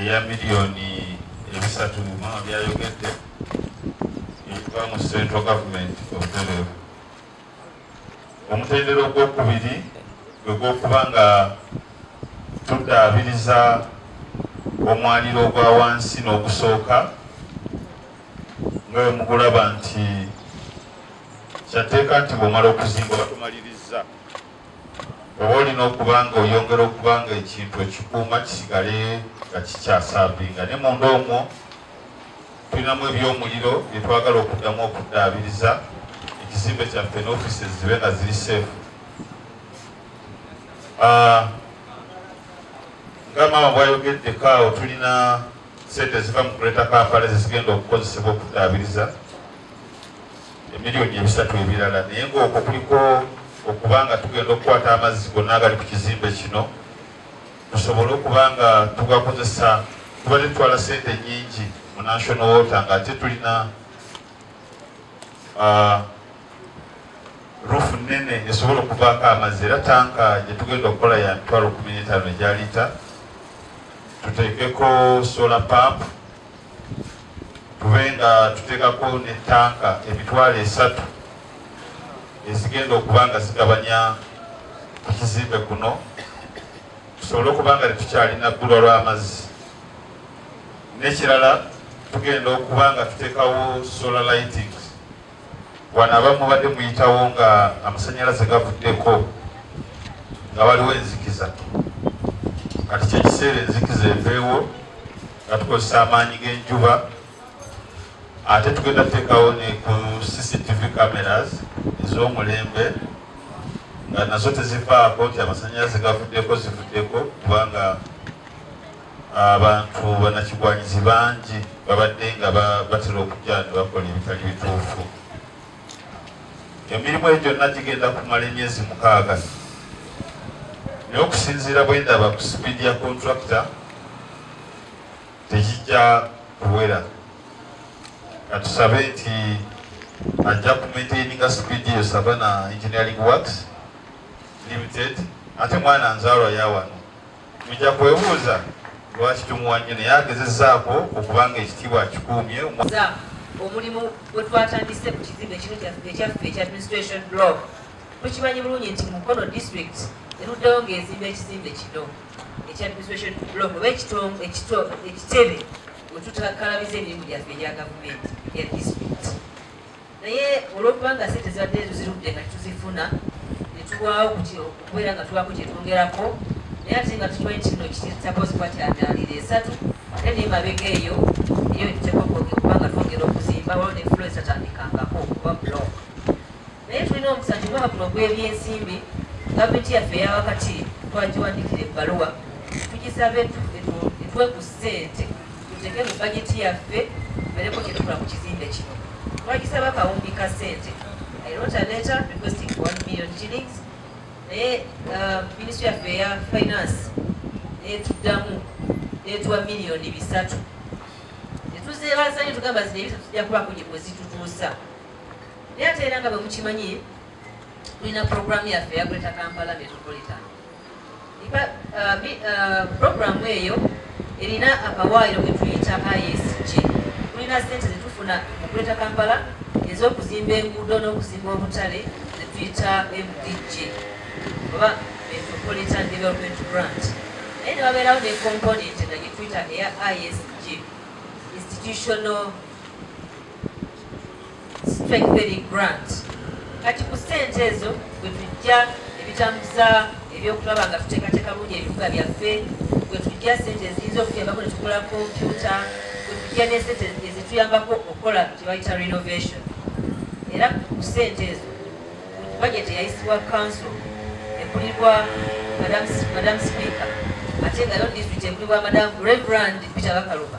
eya miliyoni ebisatu mama byayogedde ekiva mu central government obutereevu omutendera ogwokubiri gwegwokuba nga tuddaabiriza omwaliro ogwa wansi n'ogusooka nga wemugulaba nti kyatteeka nti bwomala okuzimba batumaliriza Oba olina okuba nga oyongera okuba nga ekintu okikuuma kisigale nga kikyasaabinga ne munda omwo tulinamu ebyomuliro byetwagala okuddamu okuddaabiriza ekizimbe kyaffe ne ofisi zibe nga ziri seefu ah, nga maama bwayogedde kaawo tulina sente ziva mu kuleta kampala zezigenda okukozesebwa okuddaabiriza emiliyoni ebisatu ebirala naye ngaokwo kuliko okuba nga tugenda okukwata amazzi gonna agali ku kizimbe kino tusobole okuba nga tugakozesa tuba tetutwala sente nyingi mu national water nga ate tulina ah, rufu nene esobola okuvaako amazzi era tanka gyetugenda okukola ya mitwalo kumi n'etaano egyalita tuteekeko solar pampu tube nga tutekako ne tanka emitwalo esatu ezigenda okuba nga zigabanya ku kizimbe kuno tusobole okuba nga tetukyalina bbulwa lw'amazzi n'ekirala tugenda okuba nga tutekawo solar lighting Wano abamu mubadde muyitawo nga amasanyalaze gavuddeko nga waliwo enzikiza kati kyekiseera enzikiza eveewo nga tukozesa amaanyi g'enjuba ate tugenda tuteekawo ne ku cctv cameras ez'omulembe nga nazo tezivaako nti amasanyalaze gavuddeko zivuddeko kubanga Abantu banakigwanyizi bangi babadde nga batera okujja ne bakola ebitali bituufu. Emirimu egyo gyonna gigenda kumala emyezi mukaaga naye okusinziira bwe ndaba ku sipiidi ya kontrakita tegijja kuwera katusabe nti ajja kumaintaininga sipiidi eyo savana engineering works limited ate mwana nzaalwa yawano Mujja kwebuuza lwaki tumuwa nnyo naye agezezaako okubanga ekitiibwa akikuumye omulimu gwe twatandise ku kizimbe kino ekyaffe ekya administration blog tukimanyi bulungi nti mukono district eruddewo ng'ezimba ekizimbe kino ekya administration blog oba ekitebe wetutakalabiza emirimu gyaffe egya gavumenti ya district naye olwokuba nga sente zibadde tuzirudde nga tuzifuna netulwawo kuti okubeera nga tulwako kyetwongerako naye ate nga tukimanyi kino kitapozi kuba kyamyalira esatu ate naye mabega eyo eyo tekokoge kuba nga twongera okuzimba waliwo nefulo ezitatandikangako kuba blok naye tulina omukisa nti omwaka guno gwebyensimbi gavumenti yaffe eyawakati twagiwandikira ebbaluwa tugisabe etwe ku sente tuteeke mu bajeti yaffe tubeereko kye tukola ku kizimbe kino twagisaba kawumbi ka ssente i wrote a letter requesting for 1 million shillings naye uh, minisitry yaffe eya finance netuddamu netuwa miliyoni bisatu netuzeebazayo tugamba zino ebisatu tujja kubako gye bwezitutuusa naye ate era nga bwe mukimanyi tulina programu yaffe ya greater kampala metropolitan Ba- uh, bi- uh, programu eyo erina akawaayiro ke tuyita isj tulina sente zetufuna mu kuleta kampala ez'okuzimba enguudo n'okuzimba obutale zetuyita mdg oba metropolitan development grant naye ne babeerawo ne component nga gyetuyita eya isg institutional Strengthening Grant. Kati ku ssente ezo bwe tujja ebitambuza ebyokulaba nga tuteekateeka bulungi ebibuga byaffe, bwe tujja ssente eziyinza okutuyambako ne tugula kompyuta, bwe tujja ne ssente ezituyambako okukola kye bayita renovation. Era ku ssente ezo bajeti eyayisibwa kanso ekulirwa madamu sipiika ate nga yo disitulikiti ekulirwa madamu reverand peter bakaluba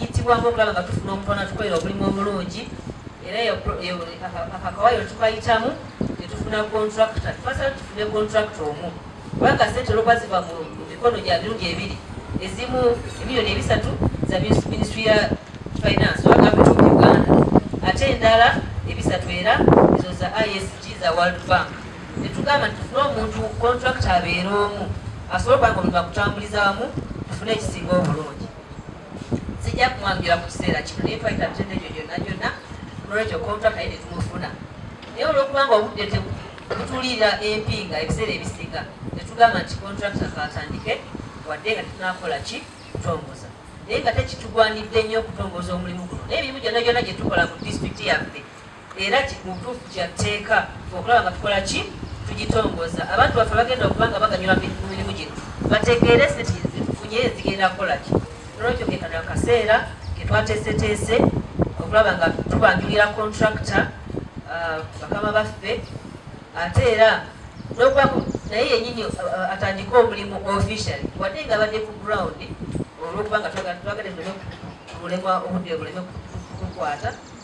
Yitibwamu okulaba nga tufuna omutwana tukolera obulimu omulungi era akakawayiro tukayitamu netufuna kontrakita twasala tufune kontrakita omu kubanga sente olwokuba ziva mu mikono gya mirundi ebiri ezimu emiliyoni ebisatu za minisitry ya finance oba gavumenti of uganda ate endala ebisatu era ezo za isg za world bank netugamba nti tufune omuntu kontrakita abeere omu asobole okubanga omuntu akutambuliza wamu tufune ekisinga obulungi sijja kumwanjula mu kiseera kino naye twayita mitendo egyo gyonna gyonna nolwekyo kontrakta ye netumufuna naye olwokubanga obudde tebutuliira empinga ebiseera ebisinga netugamba nti kontrakta kaatandike wadde nga tetunakola ki kutongoza naye nga tekitugwanidde nnyo okutongoza omulimu guno naye emirimu gyonna gyonna gyetukola mu disitulikiti yaffe era mu butuufu kya tteeka okulaba nga tukola ki tugitongoza abantu baffe bagenda okuba nga baganyula mu mirimu gino bategeere sente zetufunye zigenda kukola ki nolwekyo kekano akaseera ketwateeseteese okulaba nga tubanjulira kontrakita uh, bakama baffe ate era nokubaku naye yenyini uh, uh, atandike omulimu officially wadde nga abadde ku ground olwokuba nga twagala tulemwa obudde buleme kukwata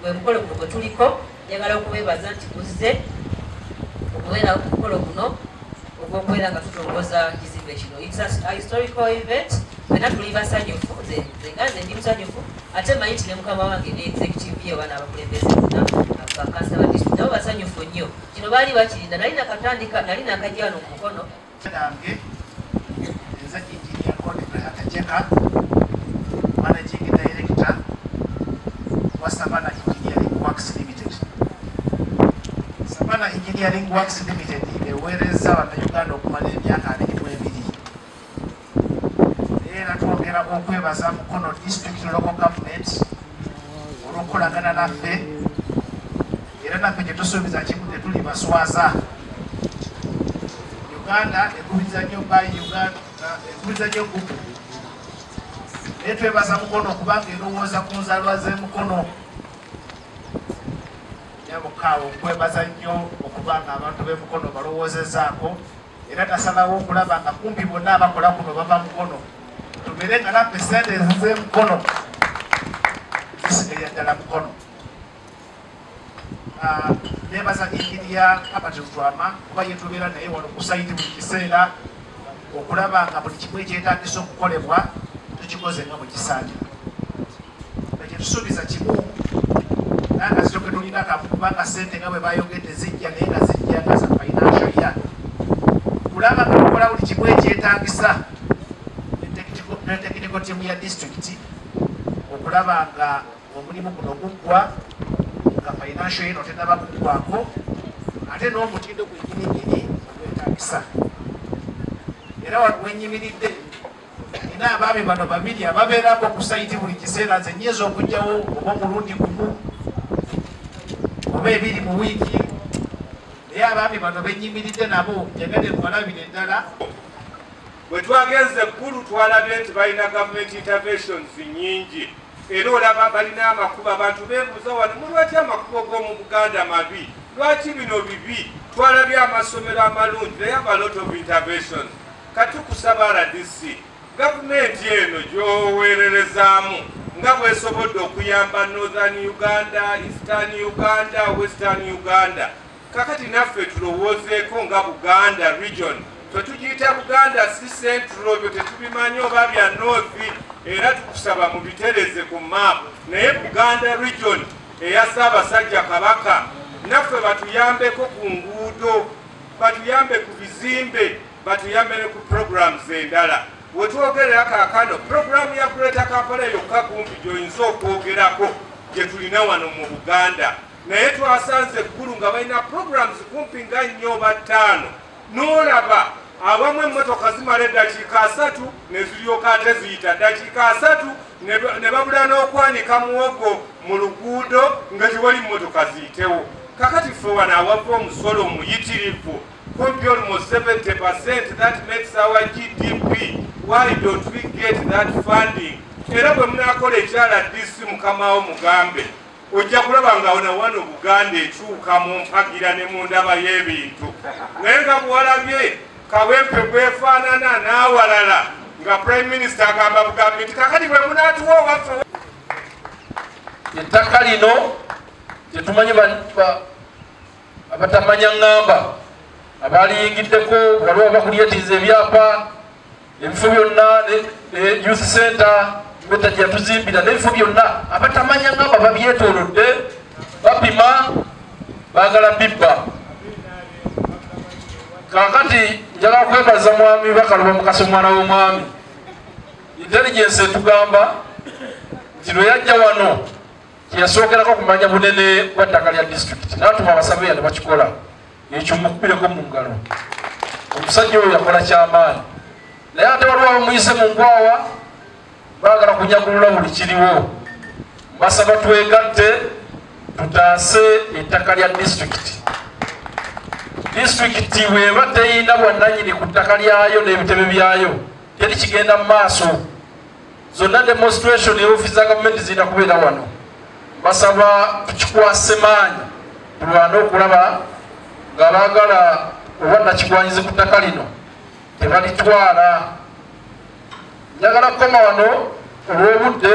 gwe mukolo guno gwe tuliko njagala okubeebaza nti kuzze okubeera ku mukolo guno ogw'okubeera nga tutongoza kizimbe kino historical event fena tuli basanyufu nze nga nze ndi musanyufu ate manyi nti ne mukama wange ne executive ye abaana abakulembeze bonna bakansaba nabo basanyufu nnyo kino baali bakirinda nali nakatandika nali nakajja wano ku mukono Nange nze Engineer Godfrey Hatajeka, Managing Director wa Savana Engineering Works Limited. Savana Engineering Works Limited eweerezza Bannayuganda okumala emyaka abiri era twongera okwebaza mukono district local government olwokukolagana naffe era naffe kyetusuubiza kimu tetuli baswaza uganda ekubiza nyo by uganda ekubiza nyo gugu naye twebaza mukono okubanga erowooza ku nzalwa zemukono nyabukaawo nkwebaza nnyo okubanga abantu bemukono balowoozezaako era tasalawo okulaba nga kumpi bonna abakola kuno bava mukono tubere nga naffe sente ezize mukono zisigaye ddala mukono ah, nebaza inginiya abati lutwama kuba yetubeera naye wano kusaiti buli kiseera okulaba nga buli kimu ekyetagisa okukolebwa tukikoze nga bwekisaanira tetusuubiza kimu nanga ziroke tulina kamu kubanga sente nga bwe bayogedde zijja naye nga zijja nga za financial ya kulaba nga tukola buli kimu ekyetagisa ne tekiniko tiimu ya disitulikiti okulaba nga omulimu guno guggwa nga financial yeno tenaba kuggwako ate n'omutindo gwenyinigiri ogwetagisa era wenyimiridde Nina abaami bano babiri ababeerako ku sayiti buli kiseera nze nyinza okujjawo oba omulundi gumu oba ebiri mu wiiki naye abaami bano benyimiridde nabo njagade nbalabire eddala bwe twagenze eggulu twalabye nti balina government interventions nyingi era olaba balina amakubo abantu bebuuza wano mulwaki amakubo g'omu buganda mabi lwaki bino bibi twalabye amasomero amalungi naye abalot of interventions Katukusaba rdc gavumenti eno gyoweererezaamu nga bwesobodde okuyamba Northern Uganda, Eastern Uganda, Western Uganda. Kakati naffe tulowoozeeko nga Buganda region fe tugiyita buganda si centro ebyo tetubimanyi oba bya north era tukusaba mubitereze ku map naye buganda region eya ssaabasajja kabaka naffe batuyambeko ku nguudo batuyambe ku bizimbe batuyambe ne ku programs endala wetwogerera kakano programu ya greater kampala yokka kumpi gyoyinza okwogerako gyetulina wano mu buganda naye twasanze eggulu nga balina programs kumpi nga nnyo oba ttaano n'olaba abamu emmotoka zimala eddakiika asatu ne ziryoka ate ziyita ddakiika asatu ne babula n'okwanika muwogo mu luguudo nga tewali mmotoka ziyitewo kakati ffe wano awava omusolo omuyitirivu could be almost 70%. That makes our GDP. Why don't we get that funding? Era bwe munakola ekyala DC mukamawo mugambe ojja kulaba nga ona wano Buganda ekyuka mu mpagira ne mu ndaba y'ebintu naye nga buwalabye kawempe gwefaanana n'awalala nga prime minister agamba bugambi nti kakati bwe munatuwa owaffe ettaka lino tetumanyi abatamanya ŋŋamba abaaliyingiddeko waliwo abakuliyetiiza ebyapa ebifo byonna youth center betajja tuzimbira n'ebifo byonna abatamanya ŋŋamba babyetoolodde bapima baagala bibba kakati njagala kwebaza mwami bakaluba mukasa omwana w'omwami intelligence etugamba nti lwe yajja wano teyasookerako kumanya bunene bwa ttaka lya disitulikiti natuma abasaveya ne bakikola ekyo mukubireko mu ngalo omusajja oyo yakola kyamaanyi naye ate waliwo abamuyise mu nkwawa baagala kunyagulula buli kiriwo basaba twegatte tutaase ettaka lya disitulikiti disitulikiti bweba teyina bwannanyini ku ttaka lyayo n'ebitebe byayo teri kigenda mu maaso zonna demonstration ne ofiisi za gavumenti zirina kubeera wano basaba tukikwase maanyi tulwane okulaba nga baagala oba nakigwanyizi ku ttaka lino tebalitwala njagala kukoma wano olw'obudde